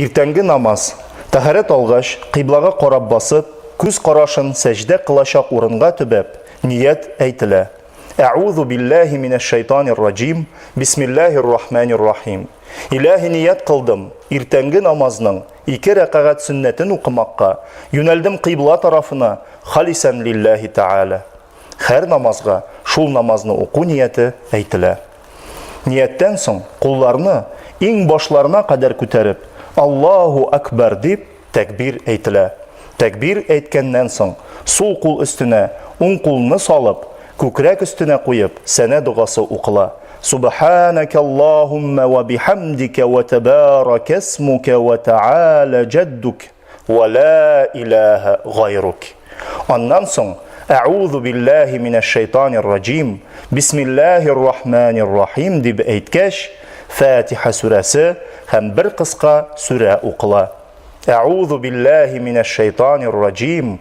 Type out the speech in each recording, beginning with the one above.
Иртәнге намаз. Тәһарәт алгач, кыйблага карап басып, күз карашын сәҗдә кылачак урынга төбәп, ният әйтелә. Әгъузу билләһи минәш шайтанир раҗим, бисмиллаһир рахманир рахим. Иләһи ният кылдым, иртәнге намазның ике рәкагать сөннәтен укымакка, юнәлдем кыйбла тарафына, халисән лилләһи тәгалә. Хәр намазга шул намазны уку нияте әйтелә. Нияттән соң кулларны иң башларына кадәр күтәреп, Аллаһу Акбар дип тәкбир әйтелә. Тәкбир әйткәннән соң, сул кул өстенә уң кулны салып, күкрәк өстенә куеп, сәнә догасы укыла. Субханәкә Аллаһуммә вә бихәмдикә вә тәбәрәкәсмүкә вә тәгалә җәддүк. Ва ла илаһа гайрук. Аннан соң Әгъузу биллаһи минәш шайтанир раҗим. Бисмиллаһир рахманир рахим дип әйткәч, Фатиха сүрәсе һәм бер кыска сүрә укыла. Әгъузу биллаһи минәш шайтанир раҗим.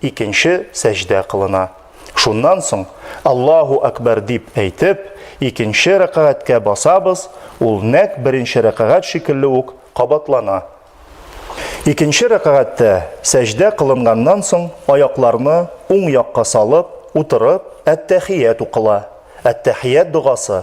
Икенче сәҗдә кылына. Шуннан соң, Аллаһу Әкбәр дип әйтеп, икенче рәкагатькә басабыз, ул нәкъ беренче рәкагать шикелле үк кабатлана. Икенче рәкагатьтә, сәҗдә кылынганнан соң, аякларны уң якка салып, утырып, әт-тәхият укыла. Әт-тәхият догасы.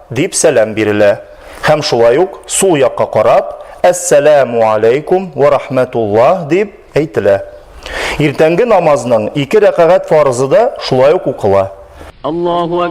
Дип сәлам бирелә. Һәм шулай ук сул якка карап, Әссәләмү аләйкүм вә рахмәтуллаһ дип әйтелә. Иртәнге намазның ике рәкагать фарызы да шулай ук укыла. Аллаһу